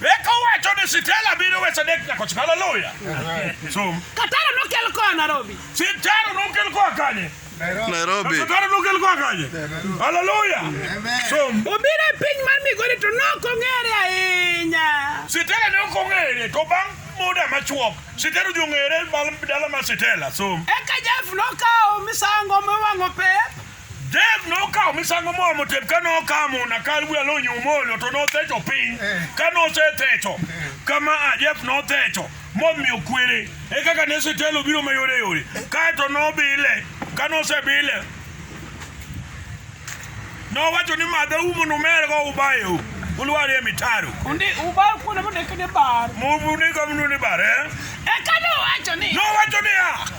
Eka owacho ni Sitela biro wesa dek nyako chika. Haleluya. Som. Kataro nokel koa Nairobi. Sitaro nokel koa kanye? Nairobi. Sitaro nokel koa kanye? Haleluya. Som. Obiro e piny mar Migori to nok ong'ere ahinya. Sitela ne ok ong'ere to bang' muda machuok Sitela odhi ong'ere bang' dala mar Sitela. Som. Eka Jeff nokawo misango miwang'o pep. Dave nokawo misango moro motep ka nokamo na kar wiya nonyumo olio to nothecho piny eh. ka nosethecho eh. kama a Jeff nothecho momiyo kwere e kaka ne sitelo biro mayore yore kaeto nobile ka nosebile nowacho ni madhe umo numergo ubayo ulwari e mitaro undi ubayo kuonde mondikni bar mundika munduni bar eh? eka nowacho ni nowacho niya